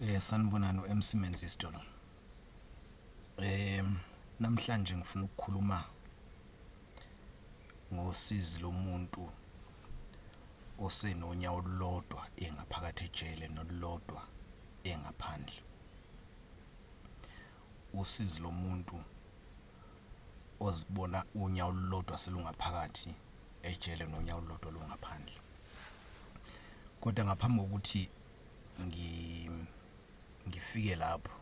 Eh sanibonani uMC Menzies Dolo. Eh namhlanje ngifuna ukukhuluma ngosizi lomuntu osenonya olulodwa engaphakathi ejele nolulodwa engaphandle. Usizi lomuntu ozibona unyawo olulodwa selungaphakathi ejele nonyawo olulodwa lungaphandle kodwa ngaphambi kokuthi ngi ngifike lapho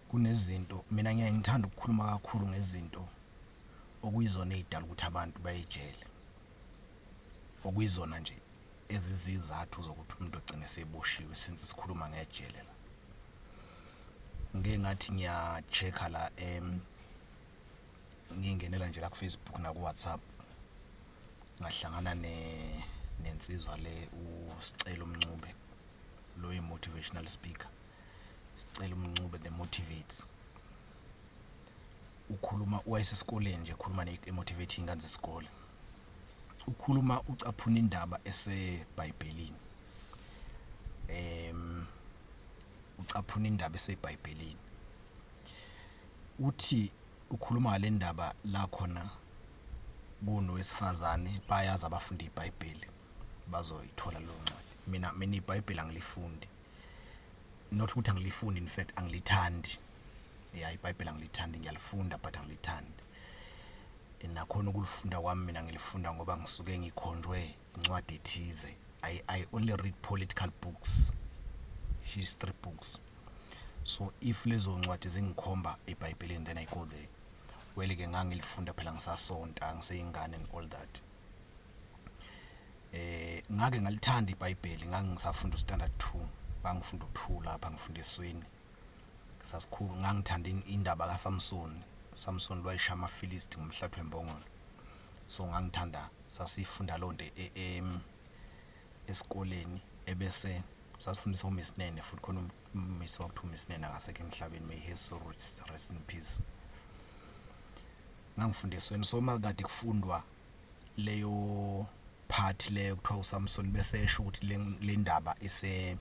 kunezinto mina ngiyaye ngithanda ukukhuluma kakhulu ngezinto okuyizona ey'dala ukuthi abantu bayejele. okuyizona nje ezizizathu zokuthi umuntu ogcine seboshiwe since sikhuluma ngejele la ngike ngathi ngiya-check-a la um ngingenela nje la kufacebook nakuwhatsapp ngahlangana ne nensizwa le usicelo mncube lo yi-motivational speaker sicelo mncube the motivates ukhuluma wayesesikoleni nje khuluma ne-motivating ingane zesikole ukhuluma ucaphuna indaba esebhayibhelini em ucaphuna indaba esebhayibhelini uthi ukhuluma ngale ndaba la khona kunowesifazane bayazi abafunda ibhayibheli bazoyithola leyo ncwadi mina mina ibhayibheli angilifundi not ukuthi angilifuni in fact angilithandi ya ibhayibheli angilithandi ngiyalifunda but angilithandi nakhona ukulifunda kwami mina ngilifunda ngoba ngisuke ngikhonjwe incwadi ethize I, i only read political books history books so if lezo ncwadi zingikhomba ebhayibhelini then i go there wele ke ngangilifunda phela ngisasonta ngiseyingane and all that eh ngake ngalithanda iBhayibheli ngangisafunda uStandard 2 ngangifunda ukuthula lapha ngifunda esweni sasikhulu ngangithanda indaba kaSamson Samson lwayisha amaFilisti ngomhlathi wembongolo so ngangithanda sasifunda lonto e, e, esikoleni ebese sasifundisa uMisinene futhi khona umisi wakuthiwa uMisinene akasekho emhlabeni may his soul rest in peace ngangifundisweni so uma kade kufundwa leyo part leyo kuthiwa uSamson bese esho ukuthi le ndaba ise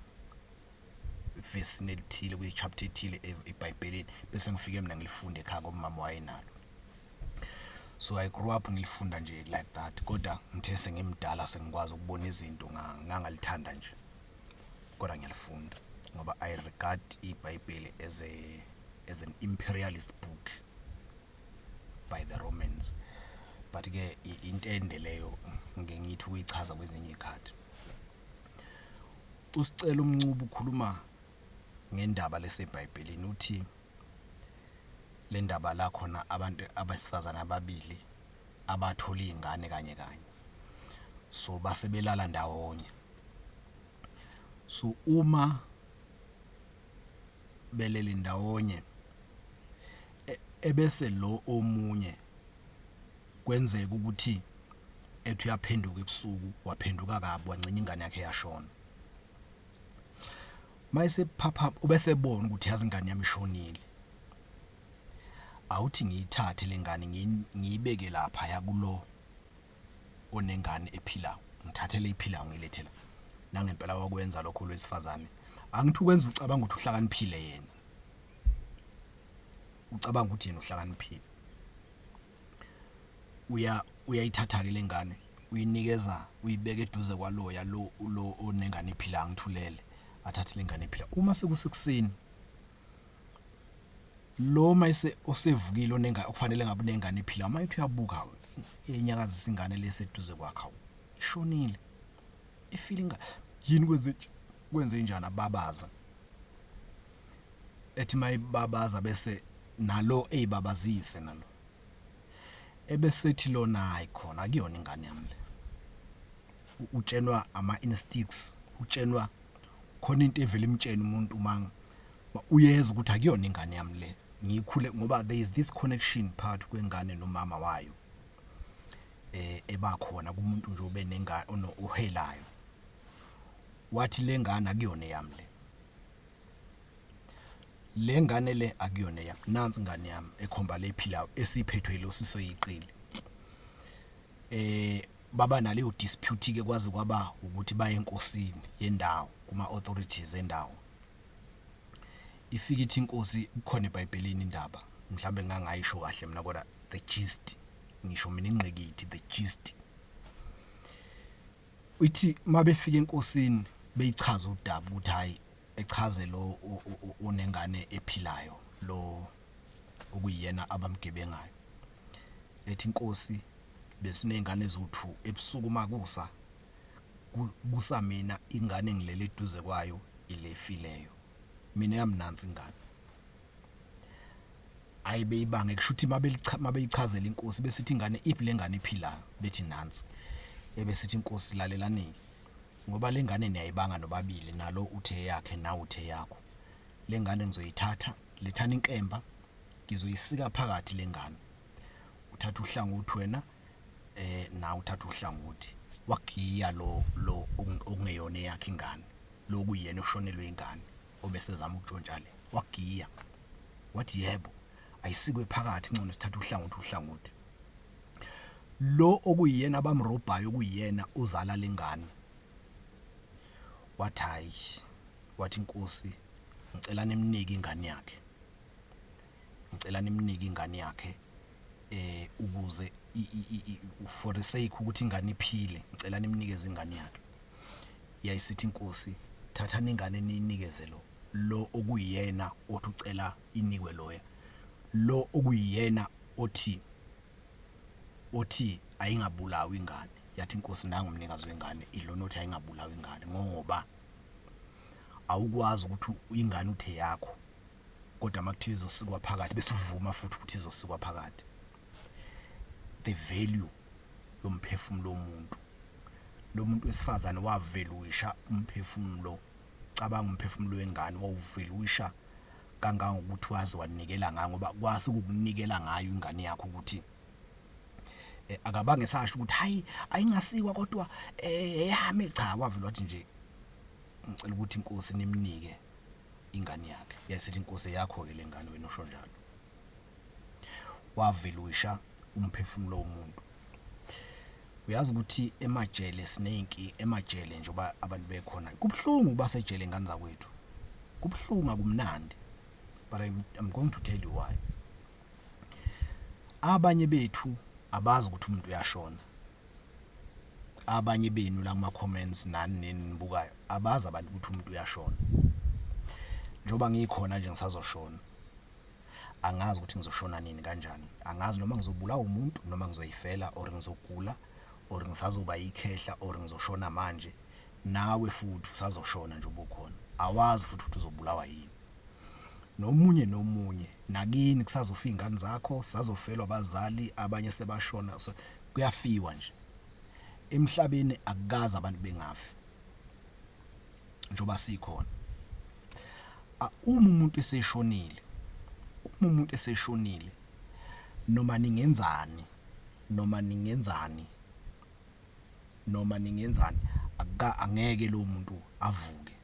vesini elithile kwi-chapter ethile e-, ebhayibhelini bese ngifike mina ngilifunde ekhaya ngoba umama wayenalo so i grew up ngilifunda nje like that kodwa ngithe sengimdala sengikwazi ukubona izinto ngangalithanda nje kodwa ngiyalifunda ngoba i regard ibhayibheli as a as an imperialist book by the romans but ke intende leyo ngike ngithi uyichaza kwezinye iy'khathi usicela umncuba ukhuluma ngendaba lesebhayibhelini uthi le ndaba la khona abantu abesifazane ababili abathola iy'ngane kanye kanye so basebelala ndawonye so uma beleli ndawonye e, ebese lo omunye kwenzeka ukuthi ethi uyaphenduka ebusuku waphenduka kabi wangcina ingane yakhe yashona mayisephapha ubesebona ukuthi yazi ingane yami ishonile awuthi ngiyithathe lengane ngiyibeke lapha yakulo onengane ephilayo ngithathele iphilayo ngilethe la nangempela wakwenza lokho lwesifazane angithi ukwenza ucabanga ukuthi uhlakaniphile yena ucabanga ukuthi yena uhlakaniphile uya uyayithatha ke lengane uyinikeza uyibeka eduze kwaloya lo lo onengane ephila ngithulele athathe lengane ephila uma sekusekuseni Lo mayise osevukile onenga okufanele ngabe unengane ephila uma ethi uyabuka enyakazisa ingane leseduze kwakhe awu ishonile ifile ingane yini kwenze kwenze njani ababaza ethi mayibabaza bese nalo eyibabazise nalo ebesethi lona hayi khona akuyona ingane yami le utshenwa ama instincts utshenwa khona into evele imtshene umuntu mang uyeza ukuthi akuyona ingane yami le ngikhule ngoba there is this connection part kwengane nomama wayo eh ebakhona kumuntu nje ube nengane ono uhelayo wathi lengane akuyona yami le lengane le akuyona yami nansi ingane yami ekhomba lephilayo esiphethwe lo siso yiqili eh Baba naleyo dispute ke kwaze kwaba ukuthi baye enkosini yendawo kuma authorities endawo. Ifika ithi inkosi kukhona eBhayibhelini indaba mhlambe ngangayisho kahle mina kodwa the gist ngisho mina ingqikithi the gist. Ithi mabefika enkosini beyichaza udaba ukuthi hayi echaze lo onengane ephilayo lo okuyiyena abamgebengayo, ethi Nkosi besineyngane eziwu-2 ebusuku makusa kusa mina ingane engilele eduze kwayo ile efileyo mina eyami nansi ingane ayi beyibange kushuthi mabeyichazela inkosi besithi ingane iphi lengane iphilayo bethi nansi ebesithi inkosi lalelanike ngoba lengane niyayibanga nobabili nalo uthe yakhe nawe uthe yakho lengane ngizoyithatha Lethani inkemba ngizoyisika phakathi lengane. Uthatha uhlangothi wena eh na uthatha uhlangothi. Wagiya lo lo okungeyona yakhe ingane. Loku yena ushonelwe ingane obese zama ukutshontsha le. Wagiya. Wathi yebo ayisikwe phakathi ngcono sithatha uhlangothi uhlangothi. Lo okuyena abamrobhayo kuyena uzala lengane. Wathayi Wathi inkosi ngicela nimnike ingane yakhe ngicela nimnike ingane yakhe eh ukuze for the sake ukuthi ingane iphile ngicela nimnikeze ingane yakhe yayisithi inkosi thatha ningane niyinikeze lo lo okuyena othi ucela inikwe loya lo okuyena othi othi ayingabulawa ingane yathi inkosi nangu mnikazi wengane ilona othi ayingabulawa ingane ngoba awukwazi ukuthi ingane uthe yakho kodwa makuthiwa izosikwa phakathi bese uvuma futhi ukuthi izosikwa phakathi the value yomphefumulo womuntu lo muntu wesifazane waveluisha umphefumulo cabanga umphefumulo wengane wawuveluisha kangangokuthi wazi wanikela ngayo ngoba kwasi ukukunikela ngayo ingane yakho ukuthi eh, akabange sasho ukuthi hayi ayingasikwa kodwa eh, eyami cha wavela wathi nje ngicela ukuthi inkosi nimnike ingane yakhe yasithi inkosi yakho ke lengane wena usho njalo wavela uyisha umphefumulo womuntu uyazi ukuthi emajele sinenki emajele nje uba abantu bekhona kubuhlungu uba sejele ingane zakwethu kubuhlungu akumnandi but I'm, I'm going to tell you why Abanye bethu abazi ukuthi umuntu uyashona. Abanye benu la kuma comments nani nini nibukayo abazi abantu ukuthi umuntu uyashona. Njoba ngikhona nje ngisazoshona. Angazi ukuthi ngizoshona nini kanjani. Angazi noma ngizobulawa umuntu noma ngizoyifela or ngizogula or ngisazoba ikhehla or ngizoshona manje. Nawe futhi usazoshona nje ubukhona. Awazi futhi ukuthi uzobulawa yini. nomunye nomunye nakini kusazofa iy'ngane zakho sazofelwa abazali abanye sebashona so kuyafiwa nje emhlabeni akukazi abantu bengafi njengoba sikhona uma umuntu eseshonile uma umuntu eseshonile noma ningenzani noma ningenzani noma ningenzani angeke lo muntu avuke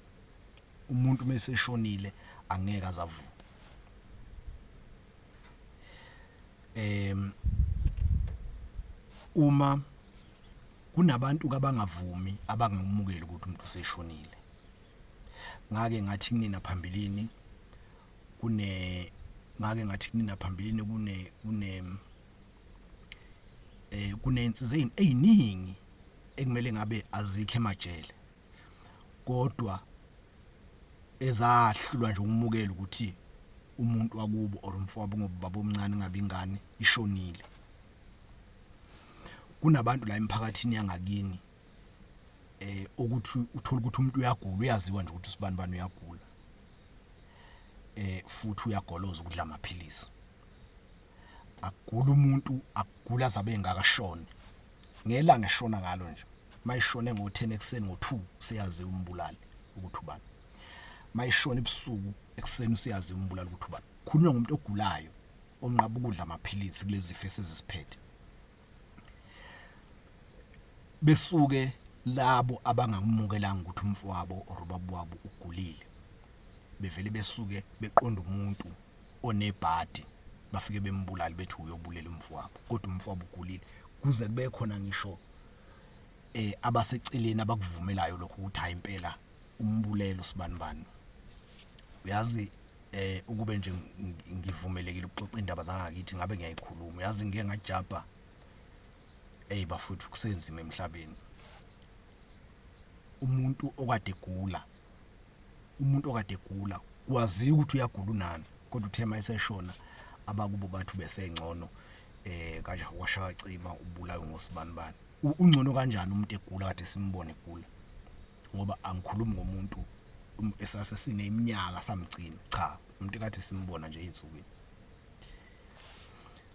umuntu meseshonile angeke azavuka em uma kunabantu kabangavumi abangamukeli ukuthi umuntu useshonile ngake ngathi kunina phambilini kune ngake ngathi kunina phambilini kune kune eh kunensiza eziningi ekumele ngabe azikho emajele kodwa ezahlulwa nje ukumukela ukuthi umuntu wakubo or umfowabo ngobaba omncane ngabe ingane ishonile kunabantu la emphakathini yangakini eh ukuthi uthola ukuthi umuntu uyagula uyaziwa nje ukuthi usibani bani uyagula eh futhi uyagoloza ukudla amaphilisi akugula umuntu akugula zabe engakashoni ngelanga eshona ngalo nje mayishone ngo-10 ekuseni ngo-2 siyazi umbulali ukuthi ubani mayishona ebusuku ekuseni siyazi umbulali ukuthi ubani khulunywa ngomuntu ogulayo onqaba ukudla amaphilisi kulezi zifo esiziphethe besuke labo abangamukelanga ukuthi umfowabo or ubaba wabo ugulile bevele besuke beqonda umuntu onebhadi bafike bembulali bethi uyobulela umfowabo kodwa umfowabo ugulile kuze kube khona ngisho eh abaseceleni abakuvumelayo lokho ukuthi hayi impela umbulelo sibanibani uyazi eh ukube nje ngivumelekile ukuxoxa indaba zangakithi ngabe ngiyayikhuluma uyazi ngeke ngajabha hey bafuthu kusenzima emhlabeni umuntu okade egula umuntu okade egula wazi ukuthi uyagula unani kodwa uthe mayiseshona abakubo bathu besengcono eh kanje washaya cima ubulawe ngosibanibani ungcono kanjani umuntu egula kade simbone egula ngoba angikhulumi ngomuntu um, esase sineminyaka samgcina cha umuntu kade simbona nje insukwini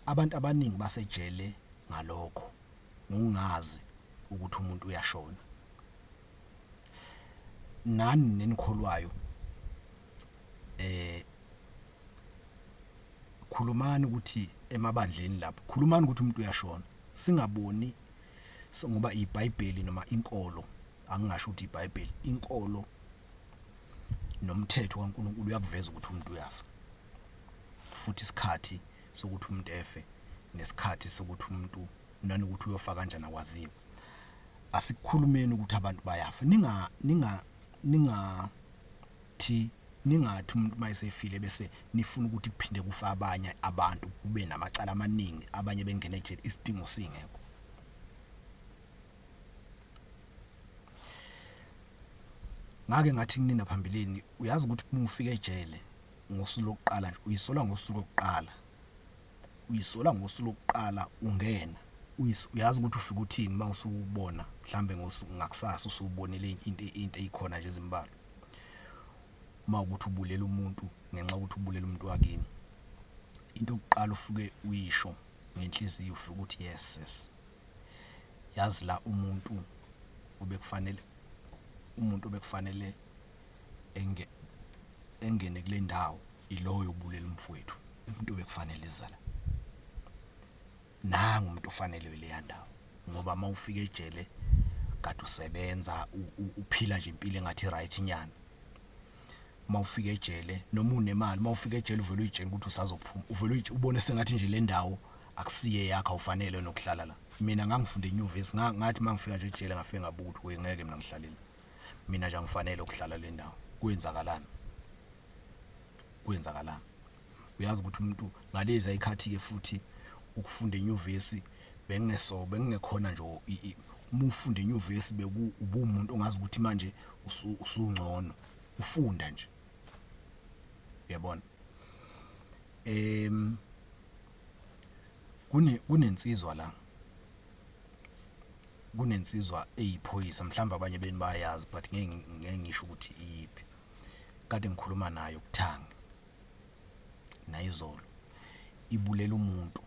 abantu abaningi basejele ngalokho ngokungazi ukuthi umuntu uyashona nani nenikholwayo eh khulumani ukuthi emabandleni lapho khulumani ukuthi umuntu uyashona singaboni ngoba iBhayibheli noma inkolo angingasho ukuthi iBhayibheli inkolo nomthetho kaNkuluNkulu uyakuveza ukuthi umuntu uyafa futhi isikhathi sokuthi umuntu efe nesikhathi sokuthi umuntu nanokuthi uyofa kanjani akwaziwe asikhulumeni ukuthi abantu bayafa ninga ninga ninga thi ningathi umuntu mayesefile bese nifuna ukuthi kuphinde kufa abanye abantu kube namacala amaningi abanye bengene ejele isidingo singekho ngake ngathi kunina phambilini uyazi ukuthi uma ufika ejele ngosuku lokuqala nje uyisola ngosuku lokuqala uyisola ngosuku lokuqala ungena uyazi ukuthi ufike uthini uma usubona mhlambe ngosuku ngakusasa usubonile into into eyikhona nje ezimbalo uma ukuthi ubulela umuntu ngenxa ukuthi ubulela umuntu wakini into yokuqala ufuke uyisho ngenhliziyo ufike ukuthi yes sis yazi la umuntu obekufanele umuntu obekufanele enge engene kule ndawo iloyo obulela umfowethu umuntu obekufanele izala nangu umuntu ofanelwe leya ndawo ngoba uma ufika ejele kade usebenza uphila nje impilo engathi right nyana uma ufika ejele noma unemali uma ufika ejele uvela uyitshela ukuthi usazophuma uvela uyitshela ubone sengathi nje le ndawo akusiye yakhe awufanele nokuhlala la mina ngangifunde enyuvesi ngathi mangifika nje ejele ngafike ngabuka ukuthi wengeke mina ngihlalela mina nje angifanele ukuhlala le ndawo kwenzakalani kwenzakalani uyazi ukuthi umuntu ngalezi ayikhathi-ke futhi ukufunda enyuvesi bengingeso bengingekhona nje uma ufunda enyuvesi bekuwumuntu ongazi ukuthi manje usungcono ufunda nje yabona em kune kunensizwa la kunensizwa eyiphoyisa mhlawumbe abanye beni bayazi but ngeke ngeke ngisho ukuthi iyiphi kade ngikhuluma nayo kuthangi nayizolo ibulela umuntu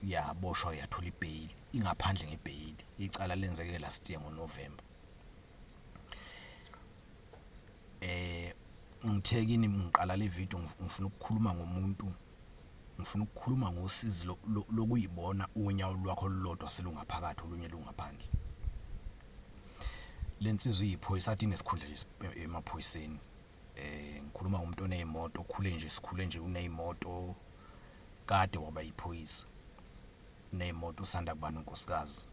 yaboshwa yathola ibheyili ingaphandle ngebheyili icala lenzeke last year ngoNovember eh ngithe kini ngiqala le video ngifuna ukukhuluma ngomuntu ngifuna ukukhuluma ngosizi lokuyibona unyawo lwakho lolodwa selungaphakathi olunye lungaphandle lensizwa iyiphoyisa athi nesikhundla nje emaphoyiseni eh ngikhuluma ngomuntu onezimoto okhule nje sikhule nje unezimoto kade waba yiphoyisa nezimoto usanda kubana unkosikazi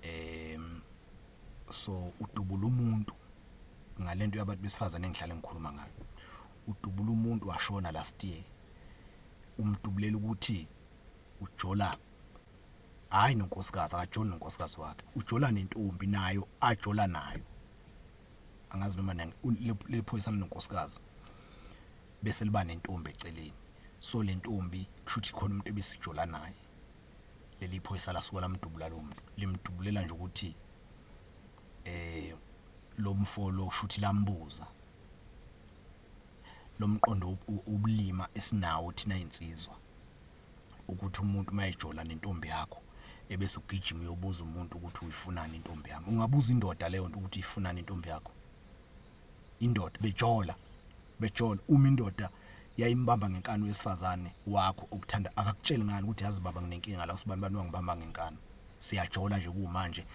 um so udubula umuntu ngale nto yabantu besifazane engihlale ngikhuluma ngayo udubula umuntu washona last year umdubulela ukuthi ujola hhayi nonkosikazi akajoli nonkosikazi wakhe ujola nentombi nayo ajola nayo angazi noma lephoyisa mnonkosikazi bese liba nentombi eceleni so le ntombi kushuthi khona umuntu ebesijola naye leli phoyisa lasuka lamdubula lo muntu limdubulela nje ukuthi eh lo mfo lo shuthi lambuza lomqondo ubulima esinawo thina insizwa ukuthi umuntu mayejola nentombi yakho ebese ugijima uyobuza umuntu ukuthi uyifunani intombi yami ungabuza indoda leyo nto ukuthi ifunani intombi yakho indoda bejola bejola uma indoda yayimbamba ngenkani wesifazane wakho okuthanda akakutsheli ngani ukuthi yazi baba nginenkinga la usibani bani wangibamba ngenkani siyajola nje kumanje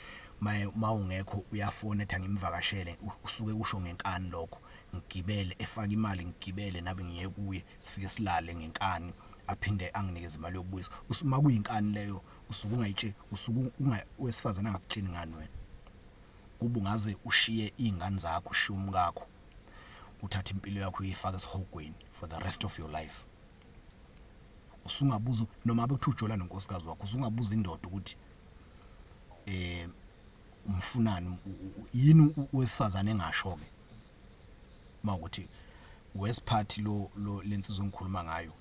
maye mawungekho uyafona ethi angimvakashele usuke usho ngenkani lokho ngigibele efaka imali ngigibele nabe ngiye kuye sifike silale ngenkani aphinde anginikeze imali yokubuyisa usuma kuyinkani leyo usuke ungayitsheli usuke wesifazane angakutsheli ngani wena ubungaze ushiye iy'ngane zakho ushiye umkakho uthathe impilo yakho uyifake esihogweni for the rest of your life usungabuza noma bekuthiwa ujola nonkosikazi wakho usungabuza indoda ukuthi eh umfunani yini owesifazane engasho ke mawukuthi wesiphathi lo lo lensizwa engikhuluma ngayo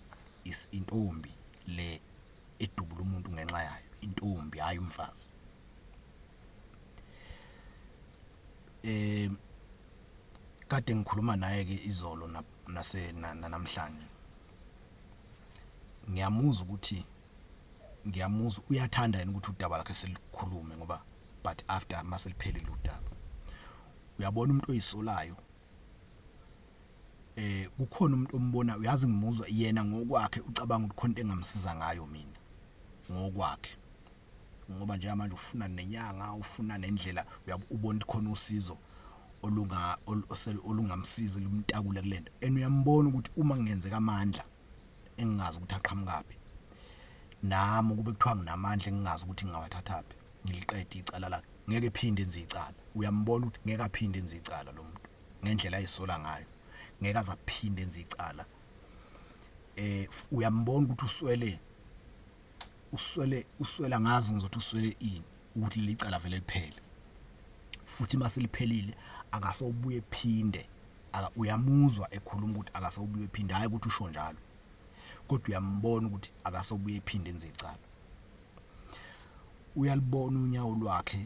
is intombi le edubula umuntu ngenxa yayo intombi hayi umfazi Eh kade ngikhuluma naye ke izolo nase namhlanje ngiyamuzwa ukuthi ngiyamuzwa uyathanda yena ukuthi udaba lakhe selikhulume ngoba but after maseliphelile udaba uyabona umuntu oyisolayo eh kukhona umuntu ombona uyazi ngimuzwa yena ngokwakhe ucabanga ukuthi khona into engamsiza ngayo mina ngokwakhe ngoba nje manje ufuna nenyanga ufuna nendlela uyabona ukuthi khona usizo olunga olungamsiza lumtakule kulento and uyambona ukuthi uma kungenzeka amandla engingazi ukuthi aqhamukaphi nami ukube kuthiwa nginamandla engingazi ukuthi ngingawathathaphi ngiliqede icala lakhe ngeke phinde enze icala uyambona ukuthi ngeke aphinde enze icala lo muntu ngendlela ayisola ngayo ngeke aze aphinde enze icala eh uyambona ukuthi uswele uswele uswela ngazi ngizothi uswele ini ukuthi licala vele liphele futhi mase liphelile akasobuye phinde aka uyamuzwa ekhuluma ukuthi akasobuye ephinde hayi ukuthi usho njalo kodwa uyambona ukuthi akasobuye ephinde enze icala uyalibona unyawo lwakhe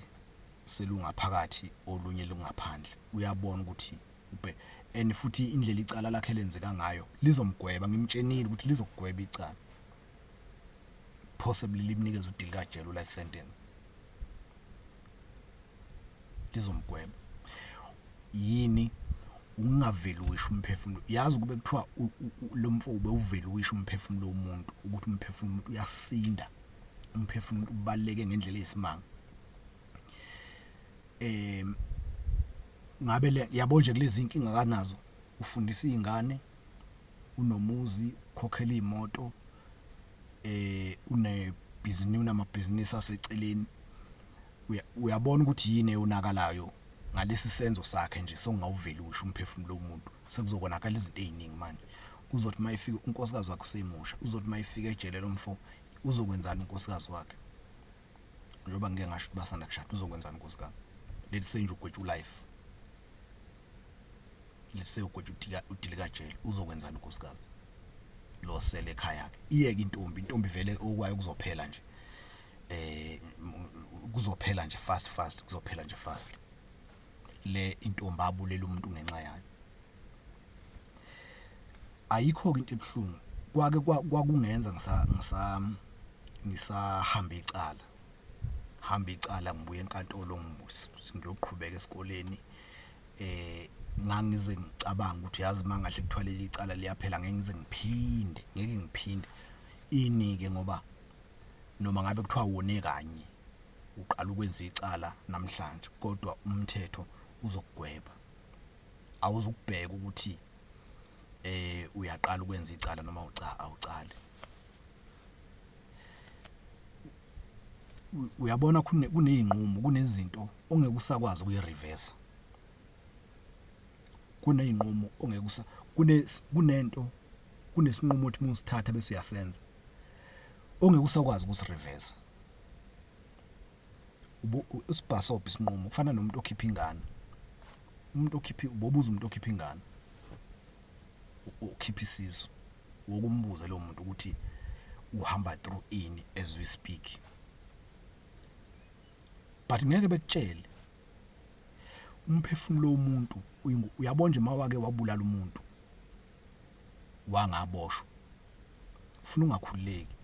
selungaphakathi olunye lungaphandle uyabona ukuthi ubhe and futhi indlela icala lakhe lenzeka ngayo lizomgweba ngimtshenile ukuthi lizokugweba icala possibly limnikeza udili kajele life sentence lizomgweba yini ungaveli wisho umphefumulo yazi kube kuthiwa lo mfo ube uveli wisho umphefumulo womuntu ukuthi umphefumulo umuntu uyasinda umphefumulo ubaleke ngendlela eyisimanga eh ngabe le yabo nje kulezi inkinga kanazo ufundisa izingane unomuzi ukhokhela imoto eh une business unamabhizinisi aseceleni uyabona ukuthi yini eyonakalayo ngalesi senzo sakhe nje sokungawuveli usho umphefumulo womuntu sekuzokonakala izinto eziningi manje uzothi mayifika unkosikazi wakhe usemusha uzothi mayifika ejele lomfo uzokwenzana unkosikazi wakhe njengoba ngeke ngasho ukuthi basanda kushada uzokwenzana unkosikazi let's say nje ugwetshwa life ngisewugwethu udilikajele uzokwenzani unkosikazi lo sele ekhaya ke iyeke intombi intombi vele okwayo kuzophela nje eh kuzophela nje fast fast kuzophela nje fast le intombi abulela umuntu ngenxa yayo ayikho ke into ebuhlungu kwake kwakungenza ngisa ngisa ngisahamba icala hamba icala ngibuye enkantolo ngiyoqhubeka esikoleni eh ngangize ngicabanga ukuthi yazi mangahle kuthwalele icala liyaphela ngeke ngize ngiphinde ngeke ngiphinde inike ngoba noma ngabe kuthiwa wone kanye uqala ukwenza icala namhlanje kodwa umthetho uzokugweba awuzukubheka ukuthi eh uyaqala ukwenza icala noma uca awucali uyabona kuney'nqumo kunezinto ongeke usakwazi ukuyirivesa kuney'nqumo ongeke usa kunento kunesinqumo othi uma usithatha bese uyasenza ongeke usakwazi ukusirivesa usibhasobha isinqumo kufana nomuntu okhipha ingane umuntu okhipha ubobuza umuntu okhipha ingane ukhipha isisu wokumbuza lo muntu ukuthi uhamba through ini as we speak but ngeke bekutshele umphefumulo womuntu uyabona nje mawake wabulala umuntu wangaboshwa ufuna ungakhululeki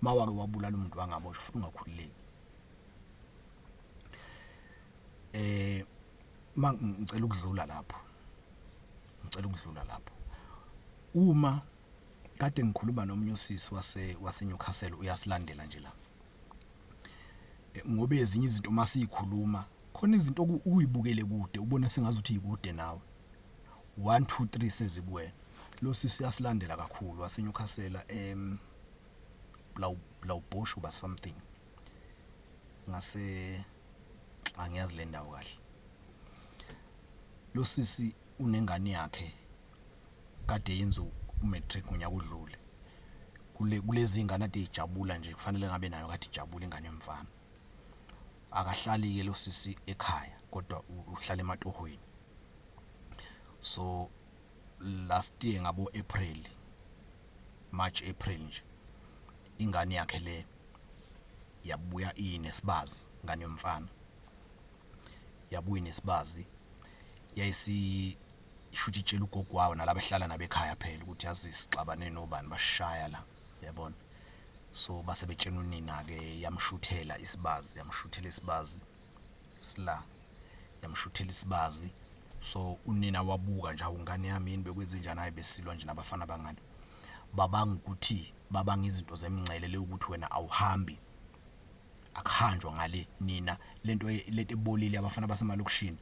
mawake wabulala umuntu wangaboshwa ufuna ungakhululeki eh ma ngicela ukudlula lapho ngicela ukudlula lapho uma kade ngikhuluma nomunye usisi wase waseNewcastle uyasilandela nje la eh, ngoba ezinye izinto uma siyikhuluma khona izinto ukuyibukele kude ubona sengazi ukuthi yikude nawe 1 2 3 sezikuwena lo sisi uyasilandela kakhulu waseNewcastle em Blaubosho ba something ngase angiyazi le ndawo kahle lo sisi unengane yakhe kade yenza u-matric ngonyaka odlule kule kulezi ngane ade ijabula nje kufanele ngabe nayo kade ijabula ingane yomfana akahlali ke lo sisi ekhaya kodwa uhlala ematohweni so last year ngabo April March April nje ingane yakhe le yabuya inesibazi ngane yomfana yabuya inesibazi yayisi shuthi itshela ugogo wawo nalabo ehlala nabekhaya phela ukuthi yazi sixabane nobani bashaya la yabona so base betshena unina ke yamshuthela isibazi yamshuthela isibazi sila yamshuthela isibazi so unina wabuka nje awungane yami yini bekwenze njani hayi besilwa nje nabafana bangani babanga ukuthi babanga izinto zemngcele le ukuthi wena awuhambi akuhanjwa ngale nina lento lento ebolile abafana basemalokushini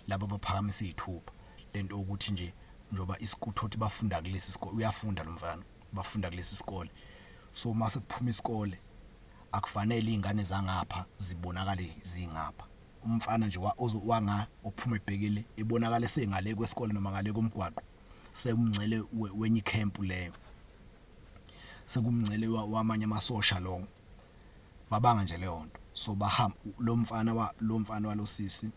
laba baphakamisa izithupha lento ukuthi nje njoba isikuthothi bafunda kulesi sikole uyafunda lo mfana bafunda kulesi sikole so mase kuphuma isikole Akufanele izingane zangapha zibonakale zingapha. Umfana nje wa ozo wanga ophuma ebhekile ebonakale sengale kwesikole noma ngale komgwaqo sewumngcele we, wenye icamp leyo. Sekumngcele wa- wamanye amasosha lowo. Babanga nje leyo nto. So bahamba lo mfana wa lo mfana walosisi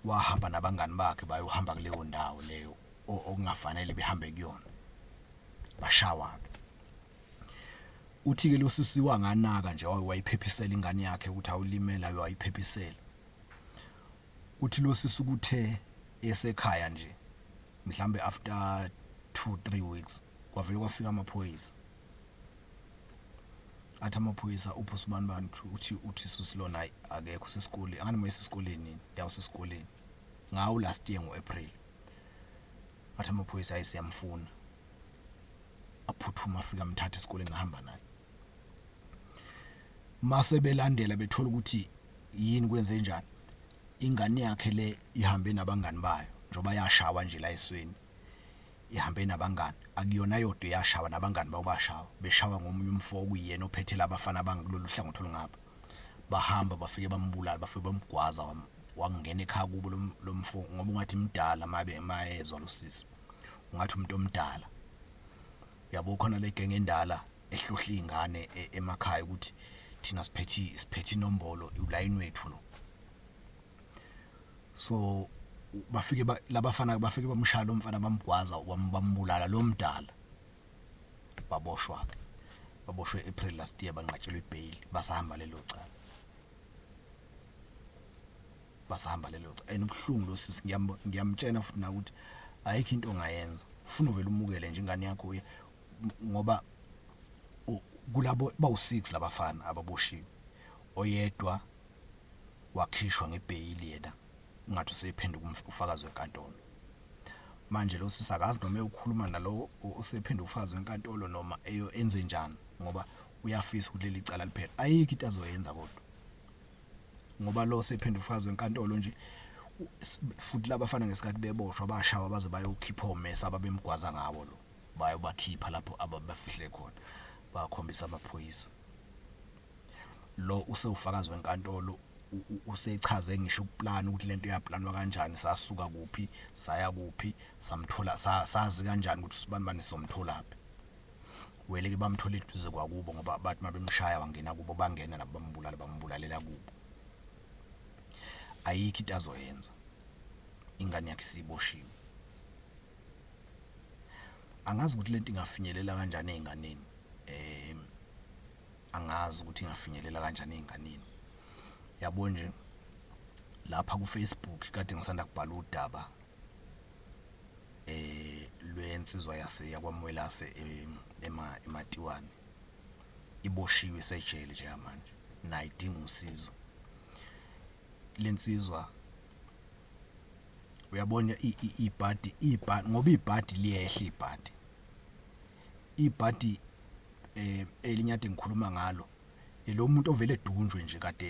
wahamba nabangani bakhe bayohamba kuleyo ndawo leyo o- okungafanele behambe kuyona. bashawana uthi-ke lo sisi wanganaka nje wayiphephisela ingane yakhe ukuthi awulimela wayiphephisela uthi lo sisi kuthe esekhaya nje mhlambe after 2 3 weeks kwavele kwafika amaphoyisa athi amaphoyisa uphi usibani bani uthi uthi susilona hayi akekho sesikoleni angani moyisa esikoleni yawusesikoleni ngawo last year ngo-april Athi amaphoyisa ayi siyamfuna. Aphuthuma afika amthatha esikoleni ahamba naye. Mase belandela bethola ukuthi yini kwenze njani. Ingane yakhe le ihambe nabangani bayo njoba yashawa nje la esweni. Ihambe nabangani akuyona yodwa yashawa nabangani bayo bashawa beshawa ngomunye umfo okuyena ophethe labafana bangakulolu hlangothi olungapha. Bahamba bafike bambulala bafike bamgwaza wangena ekhaya kubo lo mfo ngoba ungathi mdala mabe mayezwa lo sisi ungathi umuntu omdala yabo khona le genge endala ehlohla izingane e, emakhaya ukuthi thina siphethi siphethi inombolo ulayini wethu lo so bafike labafana bafike bamshaya lo mfana bamgwaza bambulala lo mdala baboshwa ke baboshwe April last year banqatshelwe ibail basahamba lelo cala basahamba lelo cha enobuhlungu lo sisi ngiyamtshena futhi na ukuthi ayikho into ongayenza ufuna uvele umukele nje ingane yakho uye ngoba kulabo bawu6 labafana ababoshiwe oyedwa wakhishwa ngebheyili yena ungathi usephenduka umfakazi wenkantolo manje lo sisi akazi noma eyokhuluma nalowo osephenduka umfakazi wenkantolo noma eyo enze njani ngoba uyafisa ukuthi leli cala liphele ayikho into azoyenza kodwa ngoba lo sephinde ufakazi wenkantolo nje futhi labafana ngesikhathi beboshwa bashawa baze bayokhipha omesa ababemgwaza ngawo lo bayobakhipha lapho ababafihle khona bakhombisa amaphoyisa lo usewufakazi wenkantolo usechaze ngisho ukuplan ukuthi lento yaplanwa kanjani sasuka kuphi saya kuphi samthola sazi kanjani ukuthi sibanibani somtholaphi weleke bamthola eduze kwakubo ngoba bathi mabemshaya wangena kubo bangena labo bambulala bambulalela kubo ayikho into azoyenza ingane yakhe siboshiwe angazi ukuthi lento ingafinyelela kanjani ezinganeni eh angazi ukuthi ingafinyelela kanjani ezinganeni yabo nje lapha ku Facebook kade ngisanda kubhala udaba eh lwensizwa yase yakwamwelase eh, ema ematiwani iboshiwe isejele nje manje nayo idinga usizo lensizwa uyabona ibhadi ibhadi ngoba ibhadi liyehla ibhadi ibhadi eh elinyade ngikhuluma ngalo elomuntu ovele edunjwe nje kade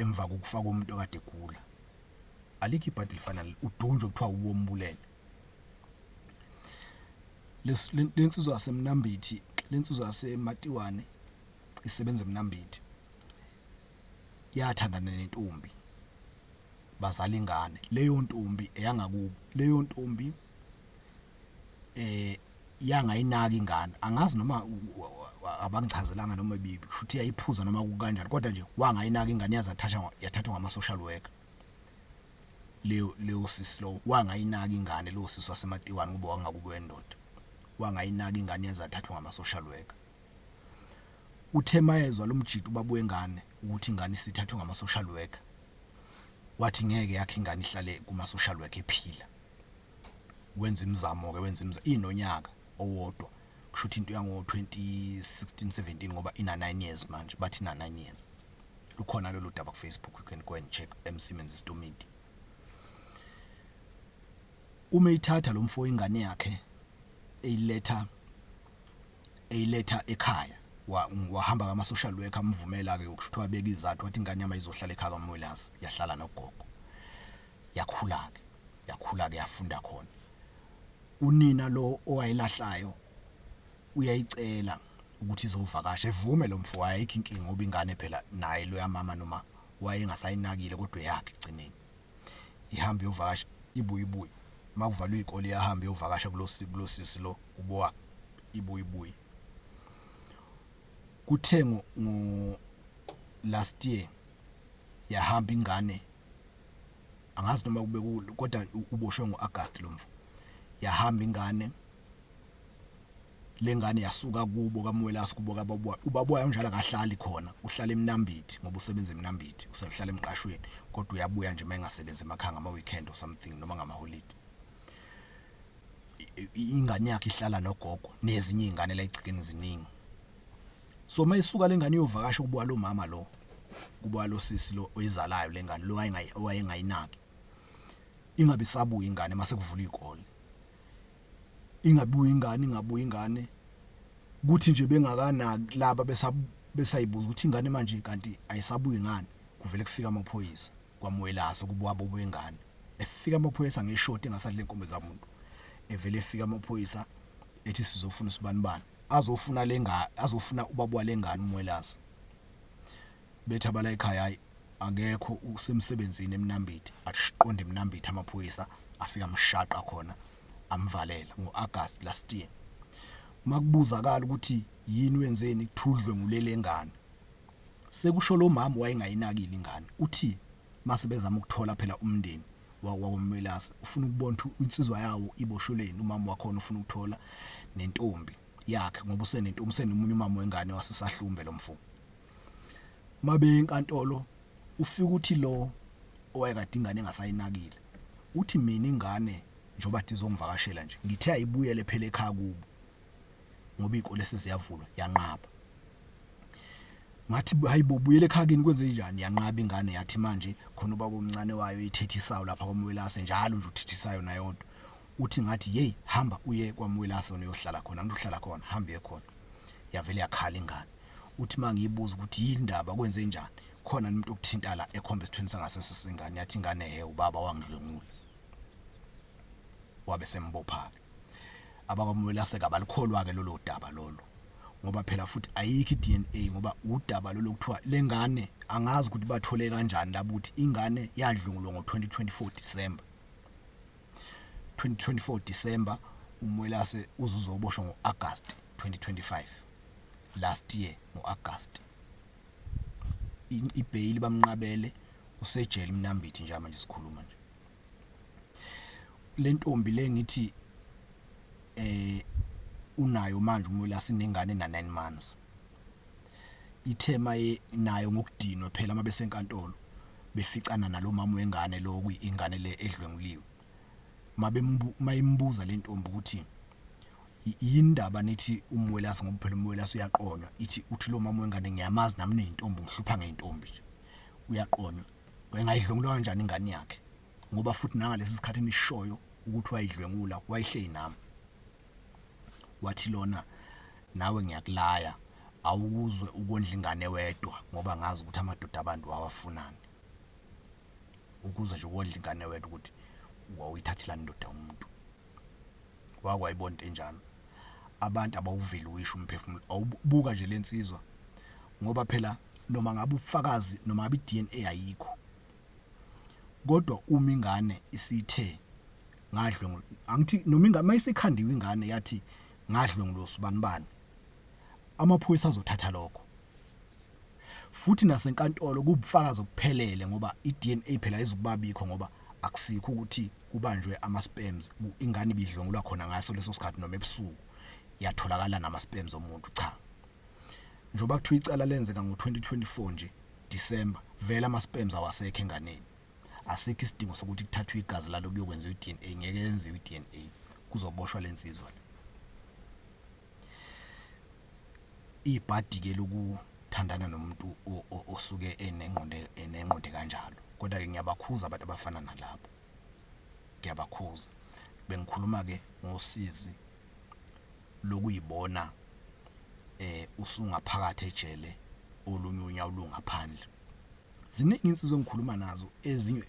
emva kokufaka umuntu kade egula alikho ibhadi lifana udunjwe kuthiwa uwombulele lensizwa yasemnambithi lensizwa yasematiwane isebenza emnambithi yathandana nentombi bazala ingane leyo ntombi eyangakubo leyo ntombi eh yangayinaki ingane angazi noma abangichazelanga noma bibi futhi yayiphuza noma kukanjani kodwa nje wangayinaki ingane yazathathwa yathathwa ngama social worker leyo leyo sisi lo wangayinaki ingane lo sisi wasematiwani ngoba wangakubo endoda wangayinaki ingane yazathathwa ngama social worker uthe mayezwa lomjito babu wengane ukuthi ingane isithathwe ngama social worker wathi ngeke yakhe ingane ihlale kuma social worker ephila wenza imizamo-ke wenza imizamo inonyaka owodwa kusho ukuthi into yango-2016 17 ngoba ina-9 years manje bathi ina-9 years lukhona lolu daba kufacebook you can go and check emsimenzi istomidi uma ithatha lo mfo ingane yakhe eyiletha eyiletha ekhaya wahamba wa kama-social worker amvumela-ke ukuthi wabeka izathu wathi ingane yami ayizohlala ekhaya kamwelasi yahlala nogogo yakhula-ke yakhula-ke yafunda khona unina lo owayilahlayo uyayicela ukuthi izovakasha evume lo mfo ayikho inkinga ngoba ingane phela naye loya mama noma wayengasayinakile kodwa yakhe ekugcineni ihamba iyovakasha ibuye ibuye uma kuvalwe iy'kole iyahamba iyovakasha kulo sisi lo ubowa ibuye ibuye kuthe ngo last year yahamba ingane angazi noma kube kodwa uboshwe ngoAugust lomfo yahamba ingane lengane yasuka kubo kamwelasi kubo kababuya ubabuya unjalo akahlali khona uhlala eminambithi ngoba usebenza eminambithi usehlala emqashweni kodwa uyabuya nje mayengasebenzi emakhanga ama weekend or something noma ngama holiday ingane yakhe ihlala nogogo nezinye izingane la egcikeni ziningi So uma isuka lengane iyovakasha kubuka lo mama lo. Kubuka lo sisi lo oyizalayo lengane lo wayengayinaki. Ingabe sabuya ingane mase kuvula izikole. Ingabuya ingane ingabuya ingane. Kuthi nje bengakanaki laba besa besayibuza ukuthi ingane manje kanti ayisabuyi ngani. Kuvele kufika amaphoyisa kwamwelasa kubuka bobo wengane. Efika amaphoyisa ngeshoti engasadle inkombe zamuntu. Evele efika amaphoyisa ethi sizofuna usibanibani. azofuna lenga azofuna ubaba walengane umwelazi bethi abala ekhaya hayi akekho usemsebenzini emnambiti asiqonde emnambiti amaphoyisa afika amshaqa khona amvalela ngoAugust last year makubuzakala ukuthi yini wenzeni kuthudlwe ngulelengane sekusho lo mama wayengayinakile ingane uthi Mase bezama ukuthola phela umndeni wakoMelase ufuna ukubona ukuthi insizwa yawo iboshelweni umama wakhona ufuna ukuthola nentombi yakhe ngoba usenentombi usenomunye umama wengane wasesahlumbe lo mfo mabe enkantolo ufika uthi lo owayekade ingane engasayinakile uthi mina ingane njengoba dizongivakashela nje ngithe ayibuyele phela ekhaya kubo ngoba iy'kole seziyavulwa yanqaba ngathi hayi bo buyele ekhakini kwenze njani yanqaba ingane yathi manje khona ubaba omncane wayo ithethisayo lapha kwamwelase njalo nje uthethisayo nayodwa uthi ngathi yeyi hamba uye kwamwelase wena uyohlala khona angithi uhlala khona hamba uye khona yavele yakhala ingane uthi uma ngiyibuza ukuthi yini ndaba kwenze njani khona umuntu okuthinta la ekhomba esithweni sangasese sengane yathi ingane he ubaba wangidlwengula wabe sembopha-ke abakwaMwelaseka abalikholwa-ke lolo daba lolo ngoba phela futhi ayikho i-DNA ngoba udaba lolo kuthiwa le ngane angazi ukuthi bathole kanjani labo ukuthi ingane yadlungulwa ngo-2024 December 2024 December uMwelase uzuzoboshwa ngo-August 2025 last year ngo-August ibheyili bamnqabele usejele mnambithi nje manje sikhuluma nje lentombi le ngithi eh unayo manje umwela sinengane na 9 months ithema nayo ngokudinwa phela uma besenkantolo beficana nalomama wengane lo kuyingane le edlwenguliwe mayembuza lentombi ukuthi yindaba nithi umwelasi ngoba phela umwelasi uyaqonywa ithi uthi lo mama wengane ngiyamazi nami nentombi ngihlupha ngentombi nje uyaqonywa wayengayidlwengula kanjani ingane yakhe ngoba futhi nangalesi sikhathi enishoyo ukuthi wayidlwengula wayihleli nami wathi lona nawe ngiyakulaya awukuzwe ukondla ingane wedwa ngoba ngazi ukuthi amadoda abantu wawafunani ukuzwe nje ukondla ingane wedwa ukuthi wawuyithathela indoda umuntu wake wayibona into enjalo abantu abawuveli wisho umphefumulo awubuka nje lensizwa ngoba phela noma ngabe ubufakazi noma ngabe iDNA ayikho kodwa uma ingane isithe ngadlwe angithi noma ingane mayisekhandiwe ingane yathi ngadlwe ngilosibani bani amaphoyisa azothatha lokho Futhi nasenkantolo kubufakazi obuphelele ngoba iDNA phela ayizukubabikho ngoba akusikho ukuthi kubanjwe ama sperms ingane ibidlwengulwa khona ngaso leso sikhathi noma ebusuku yatholakala nama sperms omuntu cha njoba kuthiwa icala lenzeka ngo-2024 nje December vele ama sperms awasekho enganeni asikho isidingo sokuthi kuthathwe igazi lalo kuyokwenziwa iDNA ngeke yenziwe iDNA kuzoboshwa lensizwa le ibhadi-ke lokuthandana nomuntu osuke enengqondo enengqondo ekanjalo. Koda-ke ngiyabakhuza abantu abafana nalabo, ngiyabakhuza. Bengikhuluma-ke ngosizi lokuy'bona usungaphakathi ejele olunye unyawo lungaphandle. Ziningi iy'nsizwa engikhuluma nazo ezinye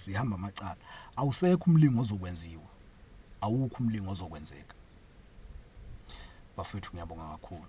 zihamba amacala, awusekho umlingo ozokwenziwa, awukho umlingo ozokwenzeka. Bafethu ngiyabonga kakhulu.